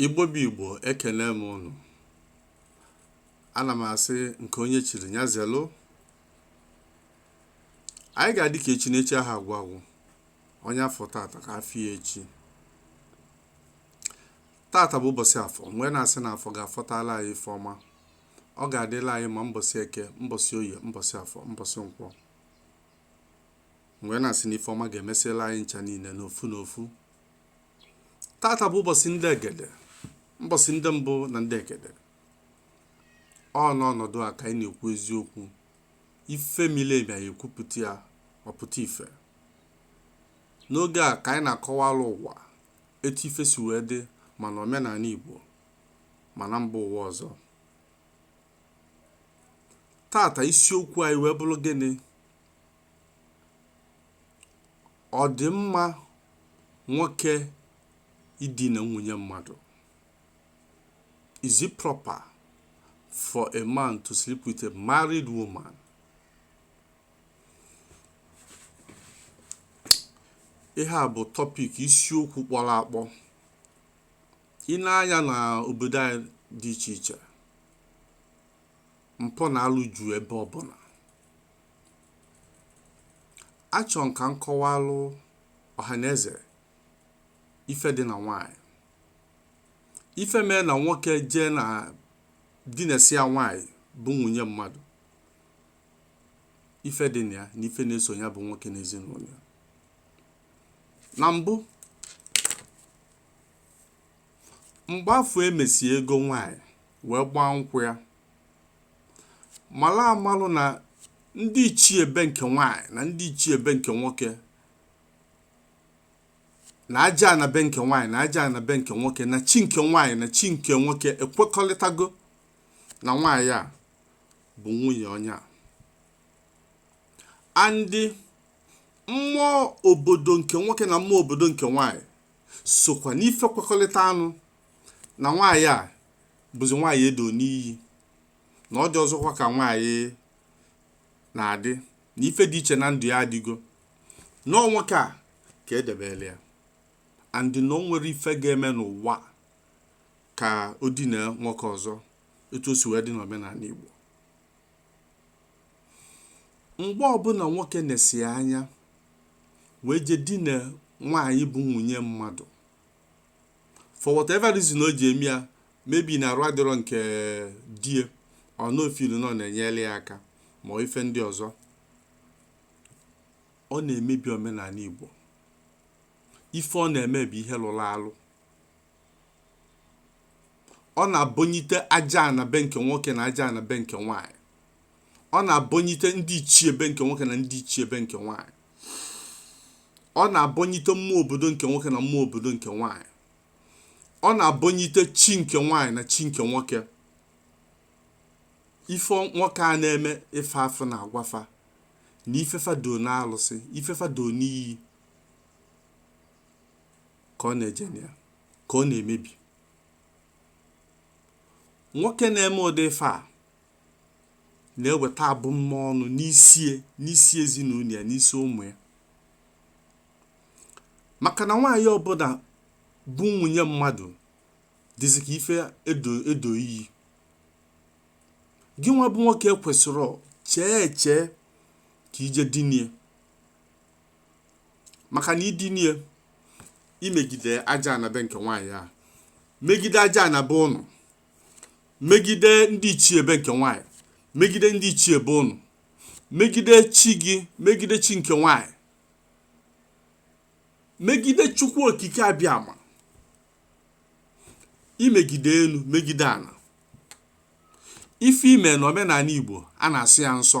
Igbo bụ Igbo ekene m ụnụ ana m asị nke onye chiri ya zelụ anyị ga-adị ka echi n'echi aha agwụ agwụ onye afụ tata ka afụ ya echi tata bụ ụbọsị afọ m wee na-asị na afọ ga-afọtala anyị ife ọma ọ ga-adịla anyị mma mbọsị eke mbọsị oye mbọsị afọ mbọsị nkwọ m wee na-asị na ife ọma ga-emesịla anyị ncha niile n'ofu n'ofu tata bụ ụbọsị ndị egede mbọsị ndị mbụ na ndị egede ọ n'ọnọdụ a ka anyị na-ekwu eziokwu ife mile emi anyị ekwupụta ya ọ pụta ife n'oge a ka anyị na-akọwalụ ụwa etu ife si wee dị ma na omenanị igbo ma na mba ụwa ọzọ tata isiokwu anyị wee bụlụ gịnị Ọ dị mma nwoke idina nwunye mmadụ? Is it proper for a man to sleep with a married woman? Ihe a bụ topic isiokwu kpọrọ akpọ. I nee anya na obodo anyị dị iche iche, mpụ na alụ juu ebe ọbụna achọ m ka m kọwalụ ọhaneze ife dị na nwaanyị ife mee na nwoke jee dinasịa nwaanyị bụ nwunye mmadụ ife dị na ya na ife na-eso ya bụ nwoke na ezinụlọ ya na mbụ mgbe afụ emesị ego nwaanyị wee gbaa nkwụ ya malụ amalụ na ndị ichie be nke nwaanyị na ndị ichie be nke nwoke na ajana be nke nwaanyị na ajana be nke nwoke na chi nke nwaanyị na chi nke nwoke ekwekọlịtago na nwaanyị a bụ nwunye onye a and mmụọ obodo nke nwoke na mmụọ obodo nke nwaanyị sokwa n'ife kwekọlịtanụ na nwaanyị a bụzi nwaanyị edo n'iyi na ọ dịrọzịkwa ka nwaanyị na-adị na ife dị iche na ndụ ya adịgo na ọ nwoke a ka edebelụ ya and na o nwerọ ife ga-eme n'ụwa ka o dina nwoke ọzọ etu o si wee dị n'omenanị Igbo mgbe ọbụna nwoke nesị anya wee je dina nwaanyị bụ nwunye mmadụ for whatever reason o ji eme ya maybe na arụ adịrọ nke die or na ọ feel na ọ na-enyere ya aka ma ọ ife ndị ọzọ ọ na-emebi omenanị igbo ife ọ na-eme bụ ihe lụlụ alụ ọ na-abọnyite ajana be nke nwoke na ajana be nke nwaanyị ọ na-abọnyite ndị ichie be nke nwoke na ndị ichie be nke nwaanyị ọ na-abọnyite mmụọ obodo nke nwoke na mmụọ obodo nke nwaanyị ọ na-abọnyite chi nke nwaanyị na chi nke nwoke ife nwoke a na-eme ife afa na-agwa fa na ife fa doo na alụsị ife fa doo n'iyi ka ọ na-eje na ya ka ọ na-emebi nwoke na-eme ụdị ife a na-eweta abụmọnụ n'isi ezinụlọ ya n'isi ụmụ ya maka na nwaanyị ọbụla bụ nwunye mmadụ dịzi ka ife edo iyi gị nwa bụ nwoke kwesịrị chee eche ka i je dinie maka na i dinie i megide ajana be nke nwaanyị a megide ajana be ụnụ megide ndị ichie be nke nwaanyị megide ndị ichie be ụnụ megide chi gị megide chi nke nwaanyị megide chukwu okike abịama i megide enu megide ana ife i me na omenanị igbo a na-asị ya nsọ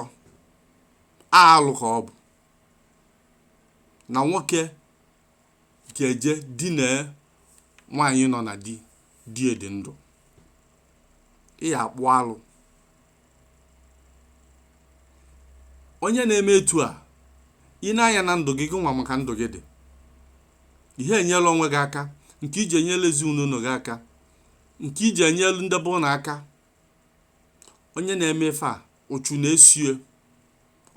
alụ ka ọ bụ na nwoke ga-eje dinee nwaanyị nọ na di di ya dị ndụ ị ya-akpụ alụ onye na-eme etu a ị na-aya na ndụ gị gị nwa ama ka ndụ gị dị ị ha enyelu onwe gị aka nke i ji enyelu ezinụlọ gị aka nke i ji enyelu ndị be ụnụ aka onye na-eme ife a ụchụ na-esie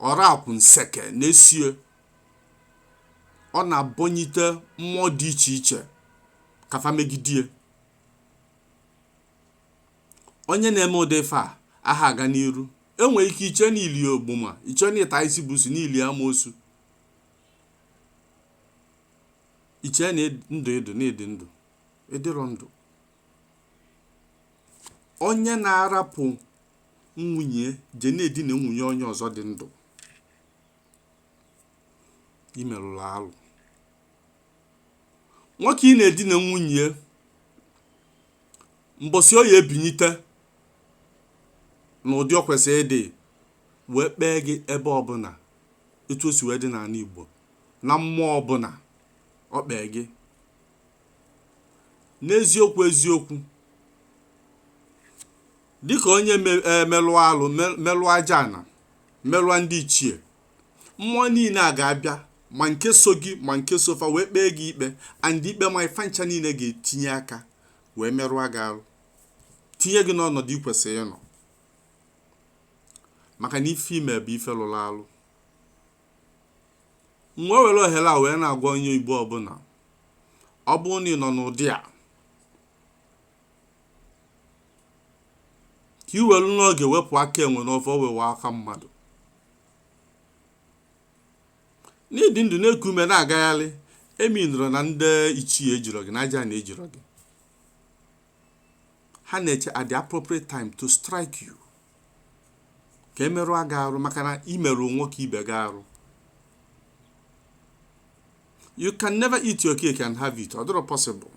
ọra akwụ nseke na-esie ọ na-abọnyite mmụọ dị iche iche ka fa megidie onye na-eme ụdị ife a a ha aga n'iru e nwere ike iche na i li ogboma iche na ị ta isi busu na i li amoosu iche na ndụ ị dị na ị dị ndụ ị dịrọ ndụ onye na-arapụ nwunye je na-edina nwunye onye ọzọ dị ndụ i merụrụ alụ nwoke ị na-edina nwunye mbọsị ọ ya-ebinyite n'ụdị ọ kwesịrị ịdị wee kpee gị ebe ọbụla etu o si wee dị n'ana Igbo na mmụọ ọbụla ọ kpee gị n'eziokwu eziokwu dịka onye melụọ e, alụ melụọ aja ana melụọ ndị ichie mmụọ niile a ga-abịa ma nke so gị ma nke so fa wee kpee gị ikpe and ikpe a ife a ncha niile ga-etinye aka wee merụọ gị arụ tinye gị n'ọnọdụ ị kwesịrị ịnọ maka na ife i me bụ ife lụrụ alụ m wee were ohere a wee na-agwa onye igbo ọbụla ọ bụrụ na ị nọ n'ụdị a ka i welu n'oge wepụ aka enwe n'ofe ọ ghọwa aka mmadụ na ị dị ndụ na-eku ume na-agagharị emeanirọ na ndị ichie ejirọ gị na aja ana ejirọ gị ha na-eche at the appropriate time to strike you ka e merụọ gị arụ maka na i merụ nwoke ibe gị arụ you can never eat your cake and have it ọ dịrọ possible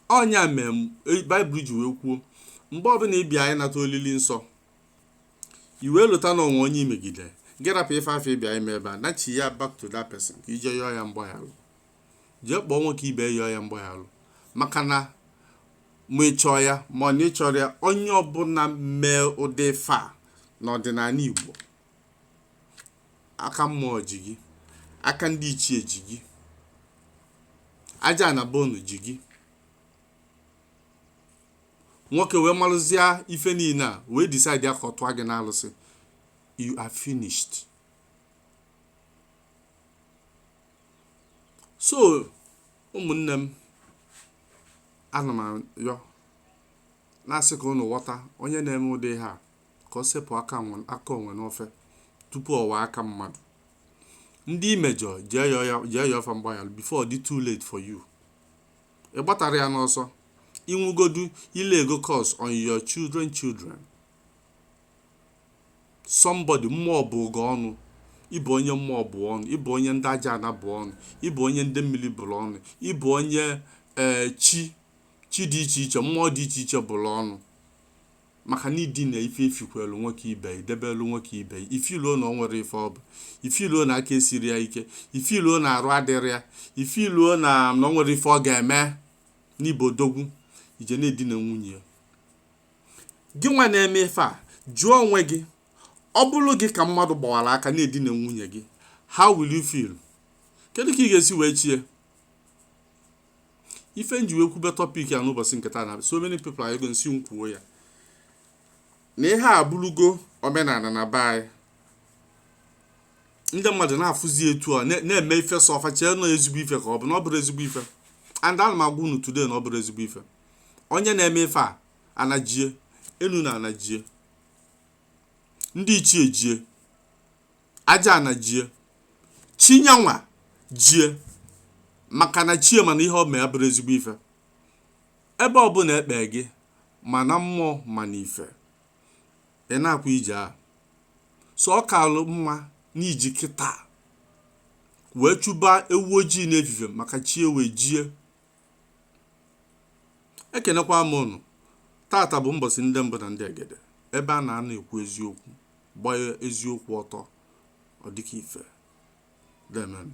ọ nya mee baịbụl ji wee kwuo mgbe ọbụla ị bịa ịnata olili nsọ i wee lota na o nwe onye i megide gị rapụ ife afụ ị bịa ime ebe a nachigha back to that person ka i je yọọ ya mgbaghalụ jee kpọọ nwoke ibe yọọ ya mgbaghalụ maka na ma ị chọọ ya ma ọ na ị chọrọ ya onye ọbụla mee ụdị ife a n'ọdịnala igbo aka mmụọ ji gị aka ndị ichie ji gị aja ana be unu ji gị nwoke wee malụzie ife niile a wee decide ka ọ tụọ gị n'alụsị you are finished so ụmụnne m ana m ayọ na-asị ka unu ghọta onye na-eme ụdị ihe a ka ọ sepụ aka nwe- aka enwe n'ofe tupu ọ ghọọ aka mmadụ ndị i mejọ jee yọọ ya- jee yọọ fa mgbaghalụ before ọ dị too late for you ị gbatara ya n'ọsọ ị nwụgodu i laygo curse on your children children somebody mmụọ bụgo ọnụ ị bụ onye mmụọ bụ ọnụ ị bụ onye ndị aja ana bụ ọnụ ị bụ onye ndị mmili bụlụ ọnụ ị bụ onye ee chi chi dị iche iche mmụọ dị iche iche bụlụ ọnụ maka na idina ife ifikwelu nwoke ibe ya idebelu nwoke ibe ya ifiluo na o nwerọ ife ọ bụ ifiluo na aka esirọ ya ike ifiluo na arụ adịrọ ya ifiluo na o nwerọ ife ọ ga-eme na ị bụ odogwu i je na-edina nwunye ya gị nwa na-eme ife a jụọ onwe gị ọ bụrụ gị ka mmadụ gbawara aka na-edina nwunye gị how will you feel kedu ka ị ga-esi wee chie ife nji wee kwube topic a n'ụbọchị nke taa na so many people ayọgo m sị m kwuo ya na ihe a bụrụgo omenala na be anyị ndị mmadụ na-afụzi etu a na-eme ife so fa chee na ọ ezigbo ife ka ọ bụ na ọ bụrọ ezigbo ife and ana m agwa unu today na ọ bụrọ ezigbo ife onye na-eme ife a ana jie enu na ana jie ndị ichie jie aja ana jie chi ya nwa jie maka na chi ya ma na ihe o me abụrọ ezigbo ife ebe ọbụla e kpe gị ma na mmụọ ma na ife ị na-akwa ije a so ọ kalụ mma na i ji kịta wee chụba ewu ojii n'efifie maka chi ewee jie ekenekwa m unu taata bụ mbọsị ndị mbụ na ndị egede ebe a na-anọ ekwu eziokwu gbaa eziokwu ọtọ ọ dịka ife deemenụ